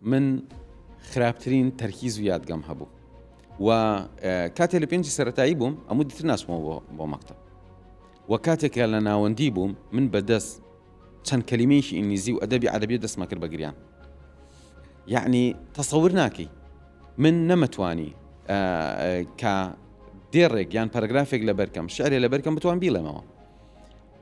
من خراپترین تەرکیز و یادگەم هەبوو و کاتێ لە پێنجی سەتایی بووم ئەمو دیتر ناسمەوە بۆ مەکتب و کاتێکە لە ناوەندی بووم من بەدەست چەند کەلیمەیەکی ئینگلیزی و ئەدەبی عەربی دەستمە کرد بەگریان یعنی تەسەور ناکەی من نەمەتوانی کە دێڕێک یان پەرگرافێک لە بەرکەم شعرێ لە بەرکەم بتوان بیڵێمەوە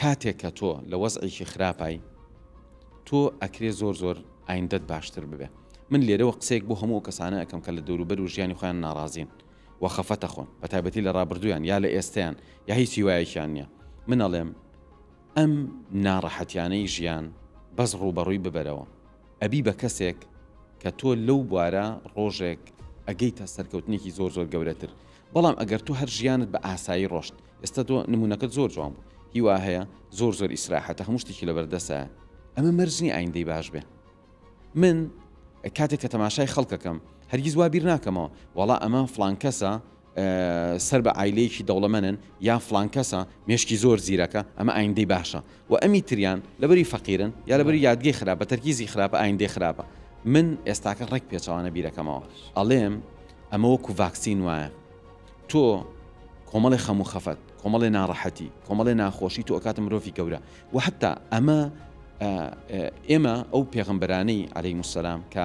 کاتێک کە تۆ لە وەزعێکی خراپای تۆ ئەکرێ زۆر زۆر ئایندەت باشتر ببێ من لێرەوە قسەیەک بۆ هەموو کەسانە ئەکەم کە لە دەوروبەر و ژیانی خۆیان ناڕازین و خەفەتە خۆن بە تایبەتی لە ڕابردویان یا لە ئێستیان یا هیچ هیوایەکیان نییە من ئەڵێم ئەم ناڕەحەتیانەی ژیان بەس ڕووبەڕووی ببەرەوە ئەبی بە کەسێک کە تۆ لەو بوارە ڕۆژێک ئەگەیتە سەرکەوتنێکی زۆر زۆر گەورەتر بەڵام ئەگەر تۆ هەر ژیانت بە ئاسایی ڕۆشت ئێستا تۆ نمونەکەت زۆر جوان بوو هی وا هەیە زۆر زۆر ئیسراحەتە هەموو شتێکی لەبەردەسە ئەمە مەرج نییە ئایندەی باش بێ من کاتێک کە تەماشای خەڵکەکەم هەرگیز وا بیر ناکەمەوە وەڵا ئەمە فلان کەسە سەر بە ئایلەیەکی دەوڵەمەنن یا فلان کەسە مێشکی زۆر زیرەکە ئەمە ئایندەی باشە و ئەمی تریان لەبری فەقیرن یا لەبری یادگەی خراپە تەرکیزی خراپە ئایندەی خراپە من ئێستاکە ڕێک پێچەوانە بیرەکەمەوە ئەڵێم ئەمە وەکو ڤاکسین وایە تۆ کۆمەڵی خەموو خەفەت کۆمەڵی ناڕەحەتی کۆمەڵی ناخۆشی تۆ ئەکاتە مرۆڤی گەورە و حتا ئەمە ئێمە ئەو پێغمبەرانەی عليهەی مسلام کە